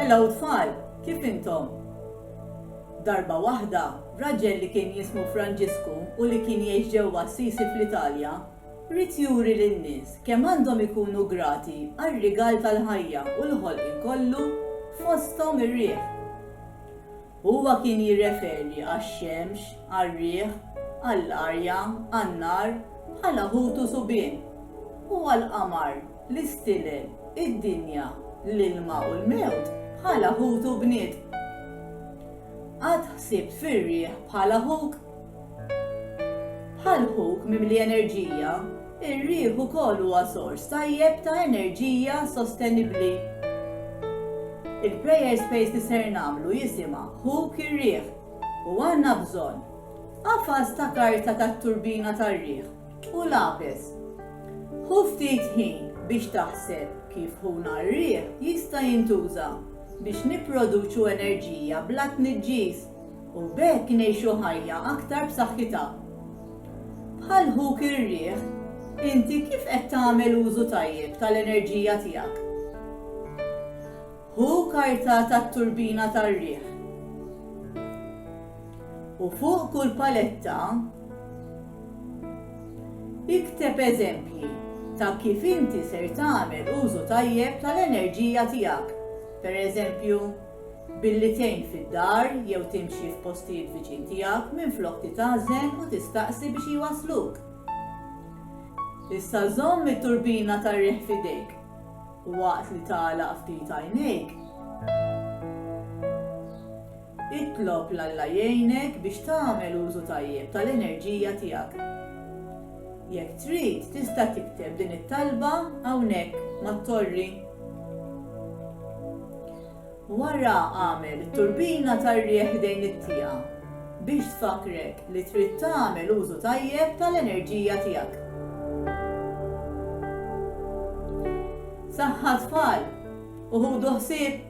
Hello tfal, kif intom? Darba waħda, raġel li kien jismu Franġisku u li kien jgħix ġewwa Assisi fl-Italja, ried juri lin-nies kemm għandhom ikunu grati għar-rigal tal-ħajja u l-ħolqien kollu, fosthom ir-riħ. Huwa kien jirreferi għax-xemx, għar-riħ, għall-arja, għan-nar, bħala ħut u subien, u għall-qamar, l-istilel, id-dinja, l-ilma u l-mewt bħala ħut u bniet. Qatt ħsibt fir-riħ bħala ħuk? Bħal ħuk mimli enerġija, ir-riħ ukoll huwa sors tajjeb ta' enerġija sostenibbli. Il-prayer space li ser nagħmlu jisimha Ħuk ir-Riħ u għandna bżonn qafas ta' karta tat-turbina tar-riħ u lapes. Ħu ftit ħin biex taħseb kif ħuna r-riħ jista' jintuża biex nipproduċu enerġija bla tniġġis. u b'hekk ngħixu ħajja aktar b'saħħitha. Bħal ħuk ir-riħ, inti kif qed tagħmel użu tajjeb tal-enerġija tiegħek? Ħu karta tat-turbina tar-riħ u fuq kull paletta ikteb eżempji ta' kif inti ser tagħmel użu tajjeb tal-enerġija tiegħek. Per eżempju, billi tgħin fid-dar jew timxi f'postijiet viċin tiegħek minflok titgħażen u tistaqsi biex jwassluk. Issa żomm it-turbina tar-riħ f'idejk waqt li tagħlaq ftit għajnejk. Itlob l-Alla jgħinek biex tagħmel użu tajjeb tal-enerġija tiegħek. Jekk trid, tista' tikteb din it-talba hawnhekk mat-torri. Wara agħmel it-turbina tar-riħ ħdejn it-tieqa biex tfakkrek li trid tagħmel użu tajjeb tal-enerġija tiegħek. Saħħa tfal u ħudu ħsieb!